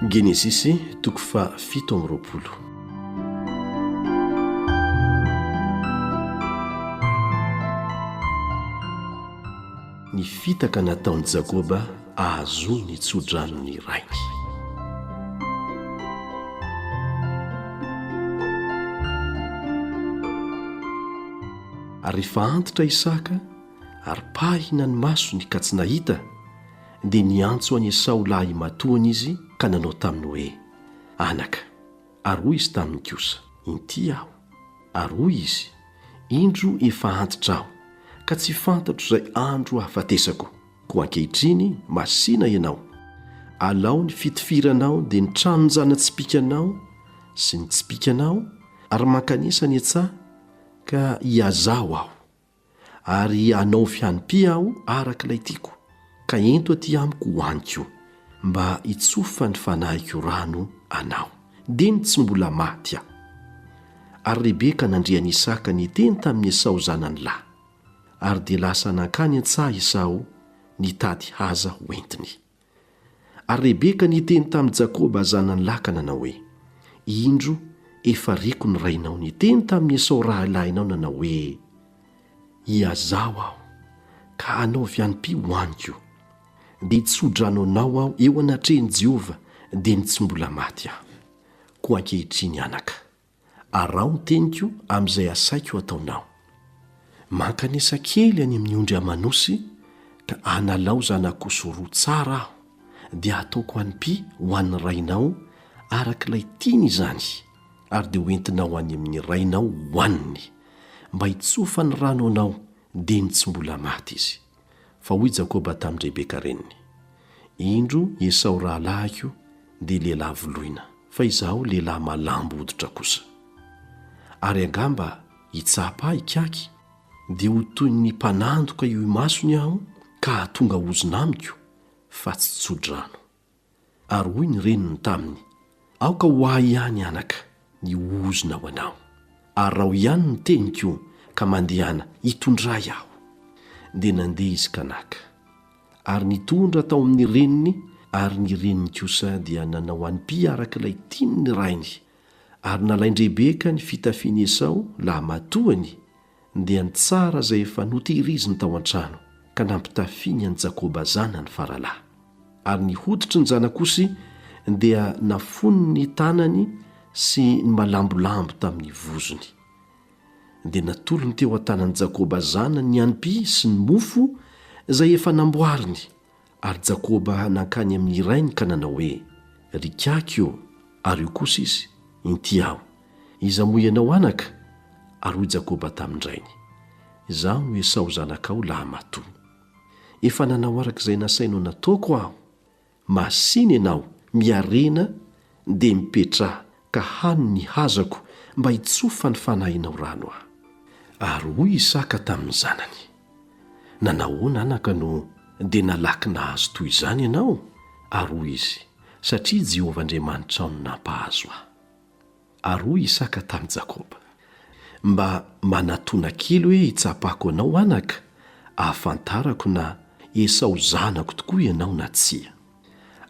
Genesisy toko fa fito amby roapolo. Ny fitaka nataon'i Jakoba ahazoany ny tso-dranon'ny rainy. Ary rehefa antitra Isaka ary pahina ny masony ka tsy nahita, dia niantso an'i Esao lahimatoany izy ka nanao taminy hoe, Anaka. Ary hoy izy taminy kosa, Inty aho. Ary hoy izy, Indro efa antitra aho, ka tsy fantatro izay andro hahafatesako. Koa ankehitriny masìna ianao. Alao ny fitifiranao dia ny tranon-jana-tsipìkanao sy ny tsipìkanao, ary mankanesa ny an-tsaha, ka hiazà ho aho. ary anao fianipia aho araka ilay tiako, ka ento aty amiko ho aniko, mba hitsofa ny fanahiko rano anao. Dia ny tsy mbola maty aho. Ary Rebeka nandre an'i Isaka niteny tamin'i Esao zanany lahy. Ary dia lasa nankany an-tsaha Esao nitady haza hoentiny. Ary Rebeka niteny tamin'i Jakoba zanany lahy ka nanao hoe, Indro efa reko ny rainao niteny tamin'i Esao rahilahinao nanao hoe, Iazaho aho, ka anaovy anipy ho any koa. Dia hitso-drano anao aho eo anatrehan'i Jehovah, dia ny tsy mbola maty aho. Koa ankehitriny anaka, Araho ny teniko amin'izay asaiko ataonao. Mankanesa kely any amin'ny ondry aman'osy ka analao zanak'osy roa tsara aho dia hataoko anipy ho an'ny rainao arak'ilay tiany izany ary dia hoentinao any amin'ny rainao hohaniny mba hitsofan'ny rano anao Dia ny tsy mbola maty izy. Fa hoy Jakoba tamin'i Rebeka reniny, Indro i Esao rahalahiko dia lehilahy voloina, fa izaho lehilahy malambo hoditra kosa. Ary angamba hitsapa ahy hikaky, dia ho toy ny mpanandoka eo imasony aho ka hahatonga ozona amiko, fa tsy tso-drano. Ary hoy ny reniny taminy, Aoka ho ahy ihany, anaka, ny ozona ho anao. Ary rao ihany ny teniko ka mandehana, hitondray aho. Dia nandeha izy ka naka. Ary nitondra tao amin'ny reniny, ary ny reniny kosa dia nanao an'py araka ilay tian'ny rainy, ary nalain-dRebeka ny fitafian'i Esao, lahimatoany, dia nitsara izay efa notehiriziny tao an-trano ka nampitafiany an'i Jakoba zanany faralahy. Ary ny hoditry ny zanak'osy dia nafono ny tanany sy ny malambolambo tamin'ny vozony. Dia natolony teo an-tanan'i Jakoba zanany ny anipy sy ny mofo izay efa namboariny, Ary Jakoba nankany amin' ny rainy ka nanao hoe, Ry kiaky ô, ary io kosa izy, Inty aho, iza moa ianao anaka? Ary hoy Jakoba tamin-drainy, Izaho no Esao zanakao lahimatoa. Efa nanao araka izay nasainao nataoko aho. Masìna ianao, miarena, Dia mipetraha ka hano ny hazako mba hitsofa ny fanahinao rano aho. Ary hoy Isaka tamin'ny zanany, Nanahoana, anaka, no dia nalaky nahazo toy izany ianao? Ary hoy izy, Satria Jehovah Andriamanitrao no nampahazo ahy. Ary hoy Isaka tamin'i Jakoba, Mba manatona kely hoe hitsapako anao, anaka, hahafantarako na Esao zanako tokoa ianao na tsia.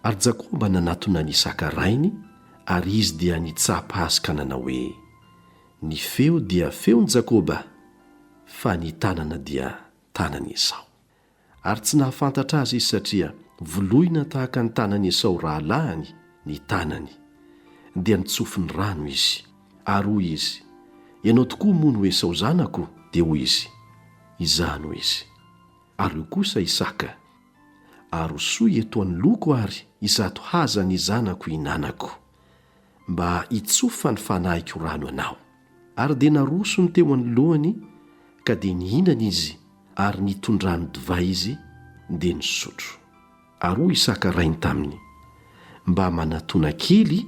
Ary Jakoba nanatona an' Isaka rainy, ary izy dia nitsapa azy ka nanao hoe, Ny feo dia feon' Jakoba, fa ny tanana dia tanan' Esao. Ary tsy nahafantatra azy izy satria voloina tahaka ny tanan' Esao rahalahiny ny tanany. Dia nitsofy ny rano izy. Ary hoy izy, Ianao tokoa moa no Esao zanako? Dia hoy izy, Izaho no izy. Ary hoy kosa Isaka, Arosoy eto anoloako àry izato haza ny zanako hinanako, mba hitsofa ny fanahiko rano anao. Ary dia naroso ny teo anoloany ka dia nihinana izy ary nitondrany divay izy dia nisotro. Ary hoy Isaka rainy taminy, Mba manatona kely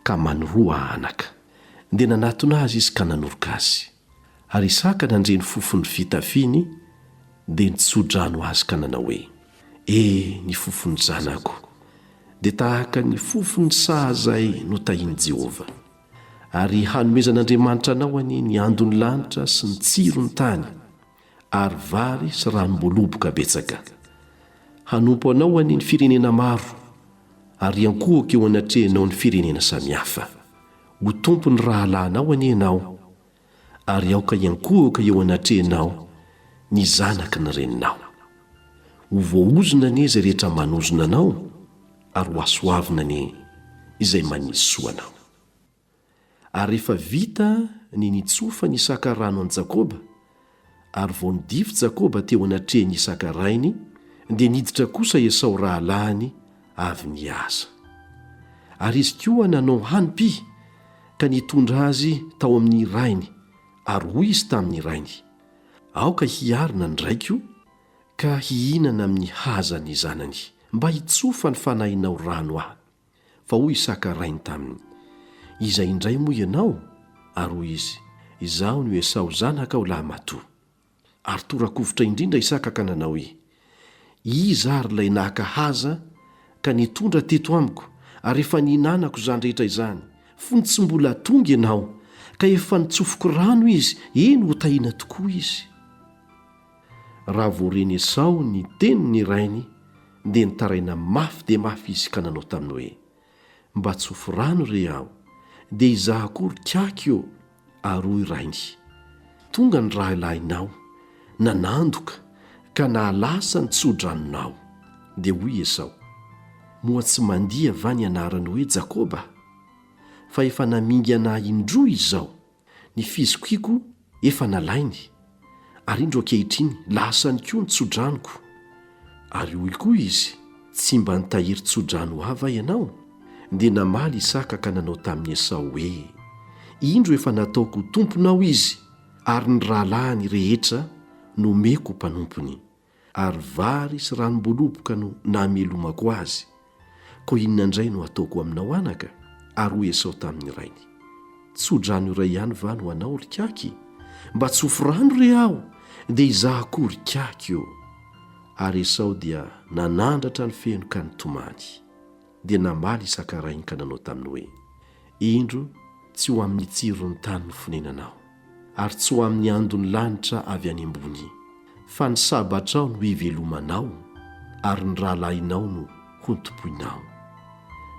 ka manoroa anaka. Dia nanatona azy izy ka nanoroka azy. Ary Isaka nandre ny fofon'ny fitafiany dia nitso-drano azy ka nanao hoe, E! ny fofon'ny zanako dia tahaka ny fofon'ny saha izay notahian'i Jehovah. Ary hanomezan'Andriamanitra anao anie ny andon'ny lanitra sy ny tsiron'ny tany. ary vary sy ranom-boaloboka betsaka. Hanompo anao anie ny firenena maro, ary hiankohoka eo anatrehanao ny firenena samihafa. Ho tompon'ny rahalahinao anie ianao, ary aoka hiankohoka eo anatrehanao ny zanaky ny reninao. Ho voaozona anie izay rehetra manozona anao, ary hohasoavina anie izay manisy soa anao. Ary rehefa vita ny nitsofa ny saka rano an'i Jakoba, ary vao nidify Jakoba teo anatrehin'i Isaka rainy, dia niditra kosa Esao rahalahiny avy niasa. Ary izy koa nanao hanim-py ka nitondra azy tao amin'ny rainy, ary hoy izy tamin'ny rainy, Aoka hiarina ny raiko ka hihinana amin'ny haza ny zanany, mba hitsofa ny fanahinao rano aho. Fa hoy Isaka rainy taminy, Iza indray moa ianao? Ary hoy izy, Izaho no Esao zanakao lahimatoa. Ary toa rakovitra indrindra Isaka ka nanao hoe, Iza ary ilay naka haza ka nitondra teto amiko ary efa nihinanako izany rehetra izany, fony tsy mbola tonga ianao, ka efa nitsofoko rano izy, eny, ho tahiana tokoa izy? Raha vao ren'i Esao ny tenin'ny rainy, dia nitaraina mafy dia mafy izy ka nanao taminy hoe, Mba tsofy rano re aho, dia izaho koa ry kiaky ô! Ary hoy rainy, Tonga ny rahilahinao, nanandoka, ka nahalasa ny tso-dranonao. Dia hoy i Esao, Moa tsy mandihy va ny anarany hoe Jakoba? Fa efa namingana ahy indroa izao. Ny fizokiako efa nalainy, ary indro ankehitriny lasany koa ny tsodranoko. Ary hoy koa izy, Tsy mba nitahiry tsodrano ho ahy va ianao? Dia namaly Isaka ka nanao tamin'i Esao hoe, Indro efa nataoko ho tomponao izy, ary ny rahalahiny rehetra nomeko ho mpanompony. ary vary sy ranom-boaloboka no namelomako azy, koa inona indray no hataoko aminao anaka? Ary hoy Esao tamin'ny rainy, Tso-drano iray ihany va no anao, ry kiaky? Mba tsofy rano re aho, dia izaho koa ry kiaky ô! Ary Esao dia nanandratra ny feno ka nitomany. dia namaly i Sakarainy ka nanao taminy hoe, Indro tsy ho amin'ny tsiron'ny tany ny fonenanao, ary tsy ho amin'ny andon'ny lanitra avy any ambony, fa ny Sabatrao no hivelomanao ary ny rahalahinao no hontompoinao.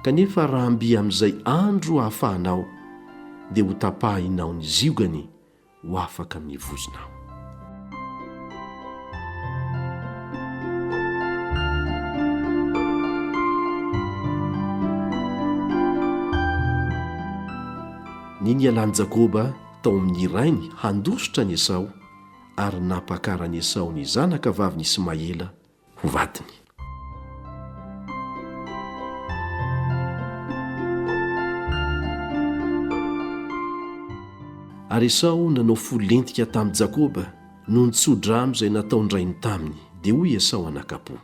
Kanefa raha mby amin'izay andro hahafahanao, dia hotapahinao ny ziogany ho afaka mivozona aho. Ny nialan'i Jakoba tao amin'ny rainy handositra an'i Esao ary nampakara an'i Esao ny zanaka vavin'i Ismaela, ho vadiny. Ary Esao nanao fo lentika tamin'i Jakoba noho ny tso-drano izay nataon-drainy taminy, dia hoy Esao anakam-po,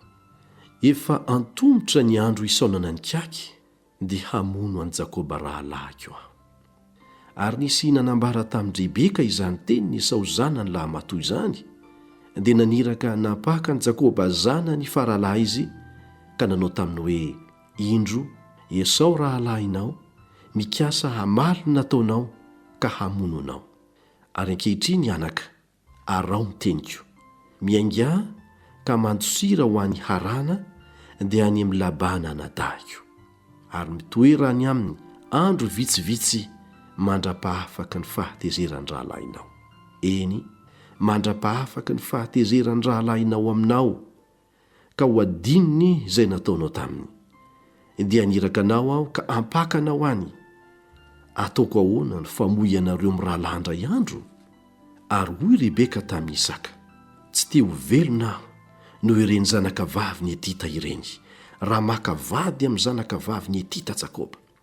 Efa antomotra ny andro hisaonana ny kiaky, dia hamono an'i Jakoba rahalahiko aho. Ary nisy hina nambara tamin'i Rebeka izany tenin'i Esao zanany lahimatoa izany, dia naniraka hanapaka an'i Jakoba zanany faralahy izy ka nanao taminy hoe, Indro, Esao rahalahinao mikasa hamaly ny nataonao ka hamono anao. Ary ankehitriny, anaka, Arao ny teniko. Miaingà ka mandosira ho any Haràna dia any amin'i Labàna anadahiko. Ary mitoera any aminy andro vitsivitsy mandra-pahafaky ny fahatezeran'ny rahalahinao. Eny, mandra-pahafaky ny fahatezeran'ny rahalahinao aminao, ka ho adinony izay nataonao taminy. Dia haniraka anao aho ka hampaka anao any. Hataoko ahoana ny famoy anareo mirahalahy indray andro? Ary hoy Rebeka tamin'i Isaka, Tsy te ho velona aho noho ireny zanakavavin'i Hetita ireny, raha maka vady amin'ny zanakavavin'i Hetita Jakoba.